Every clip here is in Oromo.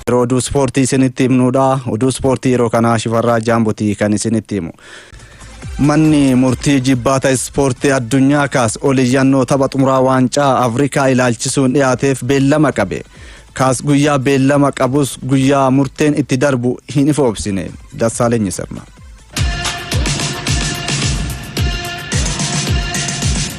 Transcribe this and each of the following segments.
Yeroo oduu ispoortii isinitti himnuudha. Oduu ispoortii yeroo kanaa shifarraa jaambotii kan isinitti himu. Manni murtii jibbaata ispoortii addunyaa kaas ol iyyannoo tapha xumuraa waancaa Afrikaa ilaalchisuun dhiyaateef beellama qabe. Kaas guyyaa beellama qabus guyyaa murteen itti darbu hin ifoobsine. Dassaaleenyi sirna.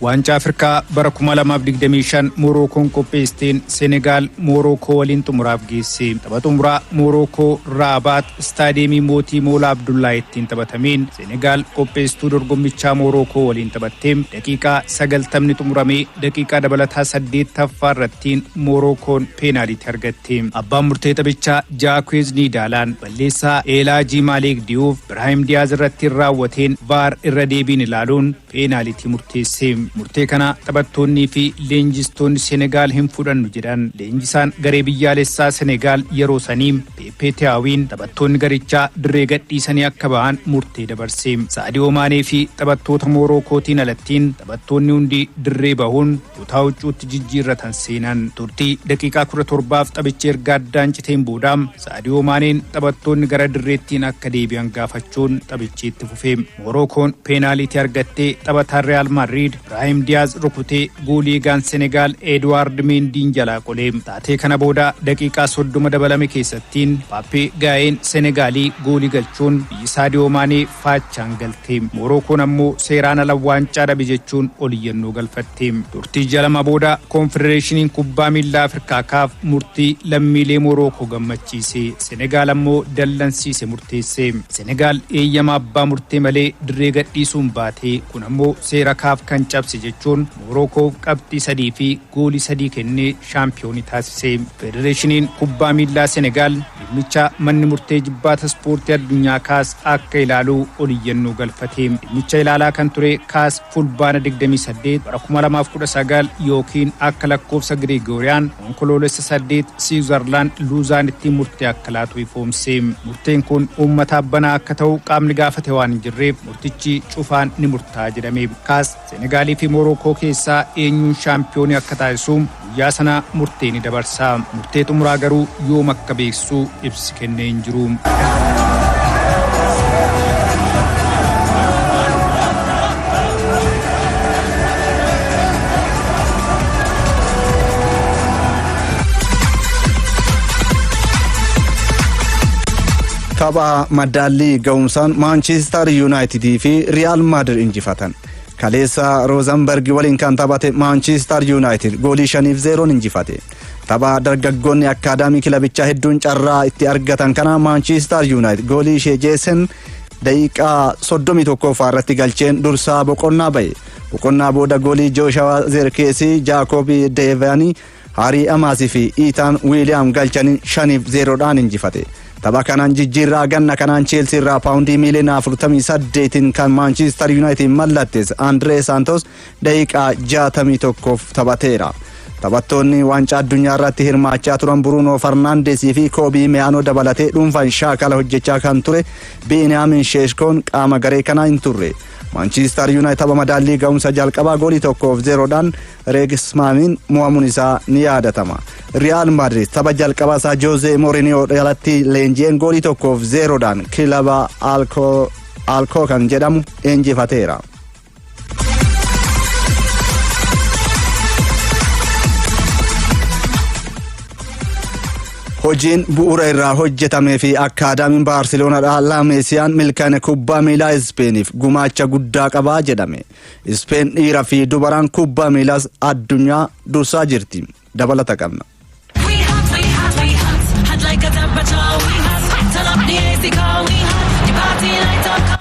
Waancaa Afrikaa bara 2025 Moorookoon qopheessteen Senegaal Moorookoo waliin xumuraaf geesse. Tapha xumuraa Moorookoo Raabaat Istaadiyeemii Mootii Moolaa Abdullaa ittiin taphatameen Senegaal qopheessituu dorgommichaa Moorookoo waliin taphattee daqiiqaa 90 xumuramee daqiiqaa dabalataa 8ffaa irrattiin Moorookoon peenaaliitii argatte. Abbaan murtee taphichaa Jaakweez Niidaalaan Balleessaa Eelaa G. Maaleek Diyuuf Biraahim Diyaaz irrattiin raawwateen Vaar irra deebiin ilaaluun peenaalitii murteesse. Murtee kana taphattoonnii fi leenjistoonni Senegaal hin fudhannu jedhan. Leenjisaan garee biyyaalessaa Senegaal yeroo sanii Peeppee Tiyaawiin taphattoonni garichaa dirree gadhiisanii akka bahan murtee dabarse. Saadiyoo Maanee fi taphattoota Moorookootiin alattiin taphattoonni hundi dirree bahuun Kutaa huccuutti jijjiirratan seenan. Turtii daqiiqaa 17f taphichi erga addaan citeen booda Saadiyoo Maaneen taphattoonni gara dirreettiin akka deebi'an gaafachuun taphichi itti fufe. Moorookoon peenaaliitii argattee taphataan Riyaal Maadriid Biraahim Diyaaz rukutee goolii eegaan Senegaal Eeduwaard Meendiin jalaa qole. Taatee kana booda daqiiqaa 30 dabalame keessattiin Paappee Gaayeen Senegaalii goolii galchuun biyyi Saadiyoo Maanee faachaan galte. Moorookoon ammoo seeraan ala waancaa dhabe jechuun oliyyannoo galfatte. Turtii ji'a lama booda Koonfedereeshiniin Kubbaa Miillaa Afrikaa kaaf murtii lammiilee Moorookoo gammachiise Senegaal ammoo dallansiise murteesse. Senegaal eeyyama abbaa murtee malee dirree gadhiisuun baate. Kun ammoo seera kaaf kan cabse jechuun Moorookoof qabxii sadii fi goolii sadii kennee shaampiyooni taasise. Federeeshiniin Kubbaa Miillaa Senegaal. Dhimmicha manni murtee ijibbaata ispoortii addunyaa kaas akka ilaalu ol iyyannoo galfate. Dhimmicha ilaalaa kan ture kaas Fulbaana 28 bara 2019 ykn akka lakkoofsa Giriigooriyaan Onkoloolessa 8 Siwuzarlaand Luuzaanitti murtee akka laatu ifoomse. Murteen kun uummataaf banaa akka ta'u qaamni gaafate waan hin jirreef murtichi cufaan ni murtaa'a jedhame. Kaas Seenegaalii fi Moorookoo keessaa eenyuun shaampiyooni akka taasisu guyyaa sana murtee ni dabarsa. Murtee xumuraa garuu yoom akka beeksisu ibsi kennee hin jiru. Tapha madaallii ga'umsaan Maanchiistar Yuunaayitidii fi Riyaal Maadir injifatan. Kaleessa Roozanberg waliin kan taphate Maanchiistar Yuunaayitid goolii shaniif zeeroon injifate. Tapha dargaggoonni akkaadaamii kilabichaa hedduun carraa itti argatan kana Maanchiistar Yuunaayitid goolii ishee jeesen daqiiqaa 31ffaa irratti galcheen dursaa boqonnaa ba'e. Boqonnaa booda goolii Jooshawa Zeerkeesii, Jaakoobii Deevaanii Haarii Amaas fi Iitaan Wiiliyaam galchaniin 5f 0 dhaan injifate. Tapha kanaan jijjiirraa ganna kanaan Cheelsii irraa paawundii miiliyoona 48n kan Maanchiistar Yuunaayitid mallattees Andiree Saantos daqiiqaa 61f taphateera. Taphattoonni waancaa addunyaa irratti hirmaachaa turan Buruunoo Farnaandesii fi Koobii Meyaanoo dabalatee dhuunfaan shaakala hojjechaa kan ture Biiniyaamin Sheeshkoon qaama garee kanaa hin turre. Maanchiistar Yuunaayitid tapha madaallii ga'umsa jalqabaa goolii tokkoof zeeroodhaan Reegis Maamiin mo'amuun isaa ni yaadatama. Riyaal Maadriid tapha jalqabaa isaa Joozee Mooriniyoo jalatti leenji'een goolii tokkoof zeeroodhaan kilaba Alkoo kan jedhamu injifateera. Hojiin bu'uura irraa hojjetamee fi akkaadaamiin Baarseloonaa Laameesiyaan milkaa'ina kubbaa miilaa Ispeeniif gumaacha guddaa qabaa jedhame. Ispeen dhiira fi dubaraan kubbaa miilaas addunyaa dursaa jirti. Dabalata qabna. We hot, we hot, we hot. Hot like a temperature, we hot. Turn up the AC, car, we hot. The party light up, car.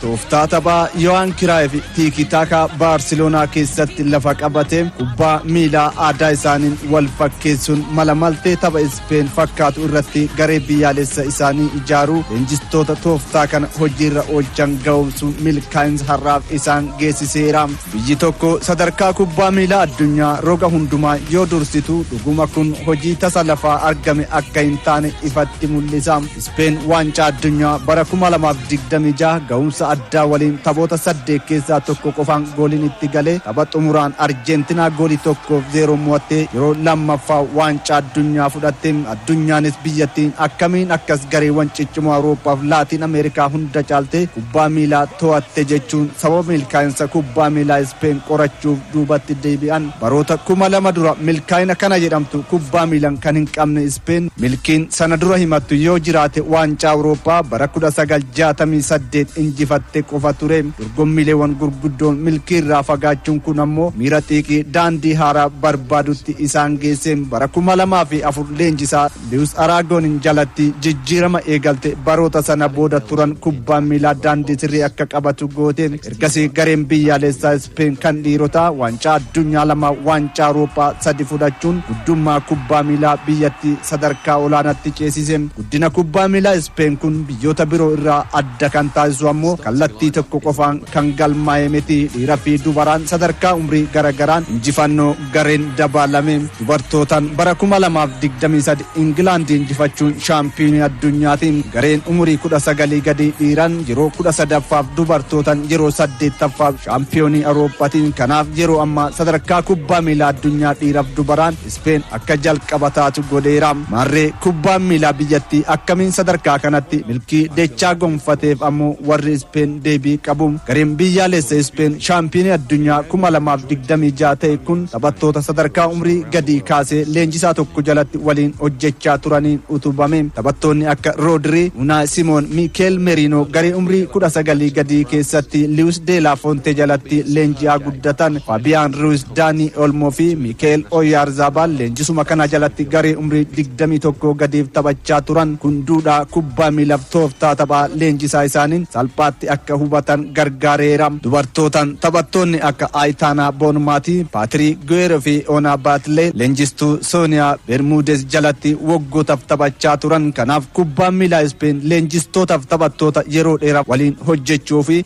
Tooftaa taphaa Yohaan Kiraayiif tiikii taakaa Baarseloonaa keessatti lafa qabate kubbaa miilaa aadaa isaaniin wal fakkeessuun mala maltee tapha Ispeen fakkaatu irratti garee biyyaalessa isaanii ijaaruu leenjistoota tooftaa kana hojiirra oolchan ga'oomsuun milkaa'insa har'aaf isaan geessiseera. Biyyi tokko sadarkaa kubbaa miilaa addunyaa roga hundumaa yoo dursitu dhuguma kun hojii tasa lafaa argame akka hin taane ifatti mul'isa. Ispeen waancaa addunyaa bara 2026 ga'umsa addaa waliin taphoota saddeet keessaa tokko qofaan gooliin itti galee tapha xumuraan Arjeentinaa goolii tokkoof zeeroon mo'attee yeroo lammaffaa waancaa addunyaa fudhatte. Addunyaanis biyyattiin akkamiin akkas gareewwan ciccimoo Awurooppaaf Laatiin Ameerikaa hunda caaltee kubbaa miilaa to'atte jechuun sababa milkaa'insa kubbaa miilaa Ispeen qorachuuf duubatti deebi'an. Baroota 2000 dura milkaa'ina kana jedhamtu kubbaa miilan kan hin qabne Ispeen milkiin sana dura himattu yoo jiraate waancaa Awurooppaa bara 1968 injifatte qofa ture. Dorgommiileewwan gurguddoon milkii irraa fagaachuun kun ammoo miira xiiqii daandii haaraa barbaadutti isaan geesse. Bara 2004 leenjisaa Liwus Araagoonin jalatti jijjiirama eegalte baroota sana booda turan kubbaan miilaa daandii sirrii akka qabatu goote. Ergasii gareen biyyaalessaa Ispeen kan dhiirotaa waancaa addunyaa lama waancaa Awurooppaa sadi fudhachuun guddummaa kubbaa miilaa biyyattii sadarkaa olaanaatti ceesise. Guddina kubbaa miilaa Ispeen kun biyyoota biroo irraa adda kan taasisu ammoo kallattii tokko qofaan kan galmaa'e miti. Dhiira fi dubaraan sadarkaa umrii gara garaan injifannoo gareen dabaalame. Dubartootaan bara 2023 Ingilaandi injifachuun shaampiyoonii addunyaati. Gareen umurii 19 gadii dhiiran yeroo 13ffaaf dubartootan yeroo 8ffaaf shaampiyoonii Awurooppati. Kanaaf yeroo ammaa sadarkaa kubbaa miilaa addunyaa dhiiraf dubaraan Ispeen akka jalqaba taatu godheera. Maarree kubbaan miilaa biyyattii akkamiin sadarkaa kanatti milkii dechaa gonfateef ammoo warri Ispeen deebii qabu. Gareen biyyaalessa Ispeen shaampiyoonii addunyaa 2026 ta'e kun taphattoota sadarkaa umrii gadii kaasee leenjisaa tokko jalatti waliin hojjechaa turaniin utubame. Taphattoonni akka Roodirii, Unaay Simoon, Miikeel Meriinoo garee umrii 19 gadii keessatti Liwis Deelaa Foontee jalatti leenji'aa guddatan. Faabiyaan Ruwiz Daani Olmoo fi Mikeel Oyaarzaabaal leenjisuma kana jalatti garee umrii 21 gadiif taphachaa turan kun duudhaa kubbaa miilaaf tooftaa taphaa leenjisaa isaaniin salphaatti akka hubatan gargaareera. Dubartootaan taphattoonni akka Ayitaanaa Boonmaatii, Paatirii Guweeroo fi Oonaa Baatlee leenjistuu Sooniyaa Bermuudeez jalatti waggootaf taphachaa turan. Kanaaf kubbaan miilaa Ispeen leenjistootaaf taphattoota yeroo dheeraaf waliin hojjechuu fi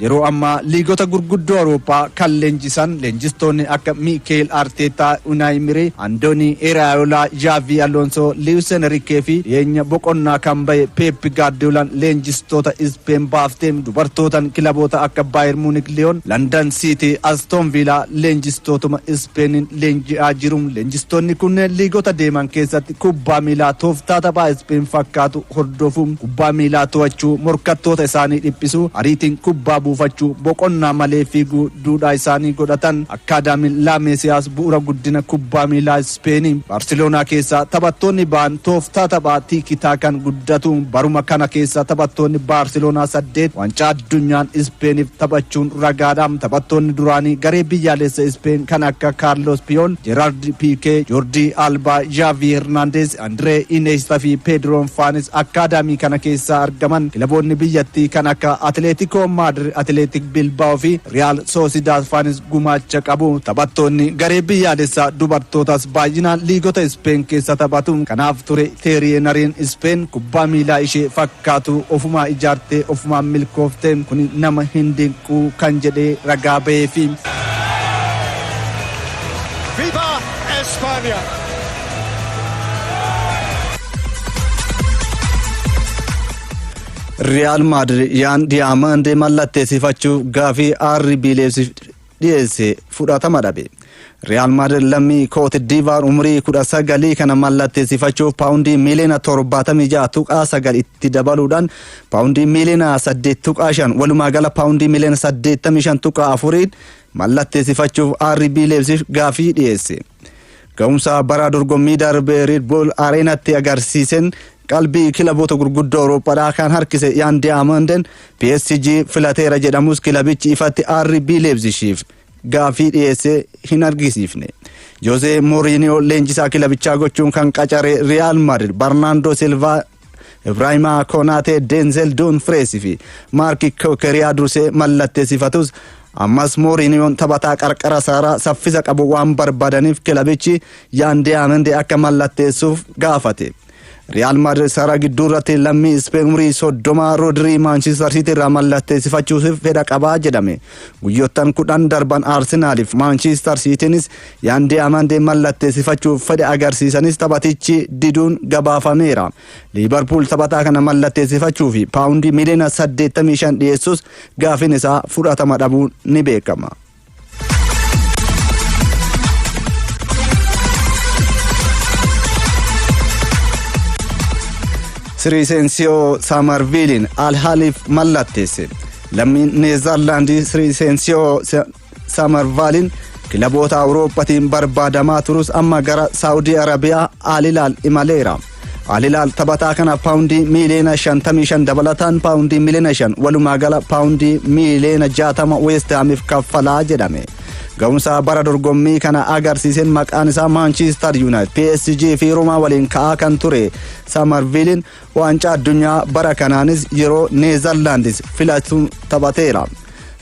Yeroo ammaa liigota gurguddoo Awurooppaa kan leenjisan leenjistoonni akka Miikeel Arteetaa, Unaayi Imiree, Andoonii Iraayolaa, Zhaavii Aloonsoo, Liwis Enriikee fi dhiyeenya boqonnaa kan bahe Peep Gaardiyoolaan leenjistoota Ispeen baafte dubartootan kilaboota akka Baayer Muunik, Liyoon, Landan Siitii, Astoon Viilaa leenjistootuma Ispeeniin leenji'aa jiru. Leenjistoonni kunneen liigota deeman keessatti. Kubbaa miilaa tooftaa taphaa Ispeen fakkaatu hordofuu, kubbaa miilaa to'achuu, morkattoota isaanii dhiphisuu, ariitiin kubbaa buufachuu, boqonnaa malee fiiguu duudhaa isaanii godhatan. Akkaadaamiin Laa Meesiyaas bu'ura guddina kubbaa miilaa Ispeeni. Baarseloonaa keessaa taphattoonni ba'an tooftaa taphaa Tiiki Taakaan guddatu. Baruma kana keessa taphattoonni Baarseloonaa saddeet Waancaa Addunyaan Ispeeniif taphachuun ragaadha. Taphattoonni duraanii garee biyyaaleessa Ispeen kan akka Kaarloos Piyool, Jeeraard. Piikee, Joordii Aalbaa, Zhaavii Hernaandeez, Andiree Ineesta fi Peediroon faanis akkaadaamii kana keessaa argaman. Kilaboonni biyyattii kan akka Atileetikoo Maadir, Atileetik Bilbaa'oo fi Riyaal Soosidaad faanis gumaacha qabu. Taphattoonni garee biyyaalessaa dubartootaas baay'inaan liigota Ispeen keessa taphatu. Kanaaf ture Teerii Henariin Ispeen kubbaa miilaa ishee fakkaatu ofumaa ijaartee ofumaan milkoofte. Kuni nama hin dinqu kan jedhee ragaa baheefi. Viva España! Riyaal Maadrid yaan diyaamandee mallatteessifachuuf gaafii RB Leipzig dhiyeesse fudhatama dhabe. Riyaal Maadrid lammii Kooti Diivaar umrii kudha sagalii kana mallatteessifachuuf paawundii miiliyoona torbaatamii ja'a tuqaa sagal itti dabaluudhaan paawundii miiliyoona saddeet tuqaa shan walumaa gala paawundii miiliyoona saddeettamii shan tuqaa afuriin mallatteessifachuuf RB Leipzig gaaffii dhiyeesse. Ga'umsa bara dorgommii darbe Red Bull Areenatti agarsiiseen qalbii kilaboota gurguddoo Awurooppaadhaa kan harkise Yaan Diyaamanden PSG filateera jedhamus kilabichi ifatti RB Leipzigiif gaaffii dhiyeesse hin argisiifne. Josee Mooriiniyoo leenjisaa kilabichaa gochuun kan qacare Riyaal Madrid Barnaandoo Silvaa Ibraahimaa Konaatee, Denzel Dumfries fi Maarki Kookeriyaa dursee mallatteessifatus ammas Mooriiniyoon taphataa qarqara saaraa saffisa qabu waan barbaadaniif kilabichi Yaan Diyaamandi akka mallatteessuuf gaafate. Riyaal Maadrid saaraa gidduu irratti lammii Ispeen umrii soddomaa Roodirii Maanchistar Siitii irraa mallatteessifachuuf fedha qabaa jedhame. Guyyoottan kudhan darban Arsenaaliif Maanchistar Siitiinis Yaan Diyaamandii mallatteessifachuuf fedha agarsiisanis taphatichi diduun gabaafameera. Liivarpuul taphataa kana mallatteessifachuuf paawundii miliyoona 85 dhiyeessus gaafiin isaa fudhatama dhabuun ni beekama. Siriiseensiyoo Saamarviiliin Alhaaliif mallatteesse. Lammiin Neezarlaandii Siriiseensiyoo Samarvaaliin kilaboota Awurooppatiin barbaadamaa turus amma gara Saawudii Arabiyaa Alilaal imaleera. Alilaal taphataa kana paawundii miiliyoona 55 dabalataan paawundii miiliyoona 5 walumaa gala paawundii miiliyoona 60 Weestaamiif kaffalaa jedhame. Ga'umsa bara dorgommii kana agarsiiseen maqaan isaa Maanchiistar Yuunaayit, PSG fi Roomaa waliin ka'aa kan ture Samarviiliin Waancaa addunyaa bara kanaanis yeroo Neezarlaandis filatu taphateera.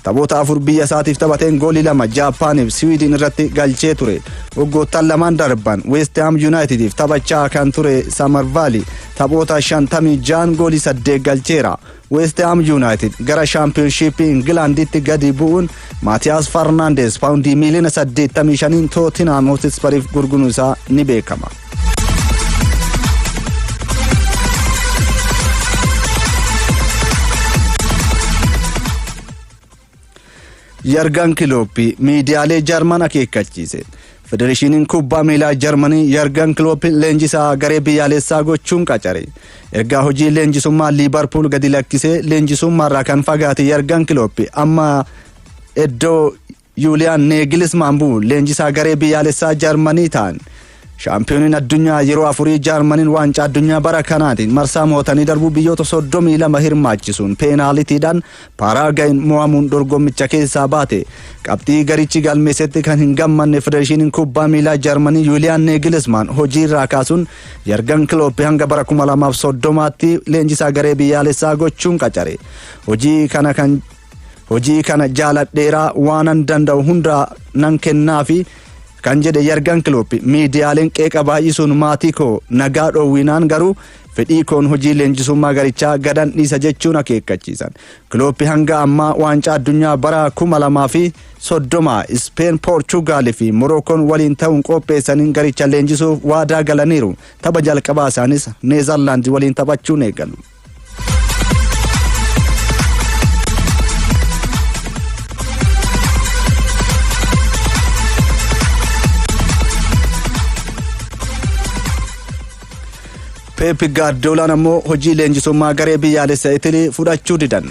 Taphoota afur biyya isaatiif taphateen goolii lama Jaappaaniif Siwiidin irratti galchee ture. Waggoottan lamaan darban Weest Haam Yuunaayitidiif taphachaa kan ture Samarvaali taphoota 56 goolii 8 galcheera. Weestihaam Yuunaayitid gara shaampiyoonshiippii Ingilaanditti gadi bu'uun Maatiyaas Farnaandees paawundii miiliyoona 85n Tootinhaam Hootispariif gurguruun isaa ni beekama. Yargan Kilooppii miidiyaalee Jarman akeekkachiise. Federeeshiniin kubbaa miilaa Jarmanii Yargan Kilooppii leenjisaa garee biyyaalessaa gochuun qacare. Ergaa hojii leenjisummaa Liibarpuul gadi lakkisee leenjisummaarraa kan fagaate Yargan Kilooppii amma iddoo Yuuliyaan Neegilismaan bu'u leenjisaa garee biyyaalessaa Jarmanii ta'an. Shaampiyooniin addunyaa yeroo afurii Jaarmaniin waancaa addunyaa bara kanaatiin marsaa mo'atanii darbuu biyyoota 32 hirmaachisuun peenaalitiidhaan Paaraagayin mo'amuun dorgommicha keessaa baate. Qabxii garichi galmeessetti kan hin gammanne Federeeshiniin Kubbaa Miilaa Jaarmanii Yuuliyaan Neegilismaan hojiirraa kaasuun Yargan Kilooppi hanga bara 2030tti leenjisaa garee biyyaalessaa gochuun qacare. Hojii kana kan Hojii kana jaaladheeraa waanan danda'u hundaa nan kennaafi kan jedhe yargan kilooppi miidiyaaleen qeeqa baay'isuun maatii koo nagaa dhoowwinaan garuu fedhii koon hojii leenjisummaa garichaa gadan dhiisa jechuun akeekkachiisan kilooppi hanga ammaa waancaa addunyaa bara 2030 ispeen poorchugaal fi morookoon waliin ta'uun qopheessaniin garicha leenjisuuf waadaa galaniiru tapha jalqabaa isaanis neezarlaandi waliin taphachuun eegalu. Peep Gaardiyoolaan ammoo hojii leenjisummaa garee biyyaalessa Itilii fudhachuu didan.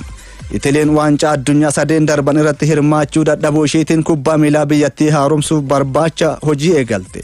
Itiliin waancaa addunyaa sadeen darban irratti hirmaachuu dadhabuu isheetiin kubbaa miilaa biyyattii haaromsuuf barbaacha hojii eegalte.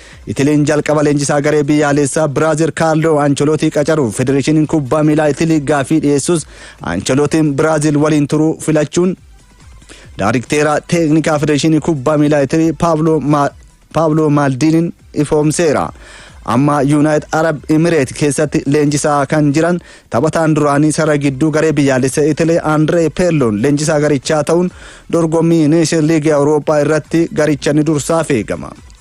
Itiliin jalqaba leenjisaa garee biyyaaleessaa Biraazil Kaarloo Ancholootii qacaruuf Federeeshiniin Kubbaa Miilaa Itilii gaafii dhiyeessus Ancholootiin Biraazil waliin turuu filachuun daarikteeraa teeknikaa Federeeshinii Kubbaa Miilaa Itilii Paavloo Maaldiiniin ifoomseera. Amma Yuunaayit Arab Imireet keessatti leenjisaa kan jiran taphataan duraanii sarara gidduu garee biyyaalessa Itilee Andree Peerloon leenjisaa garichaa ta'uun dorgommii Neeshin Liigii Awurooppaa irratti garicha ni dursaa feegama.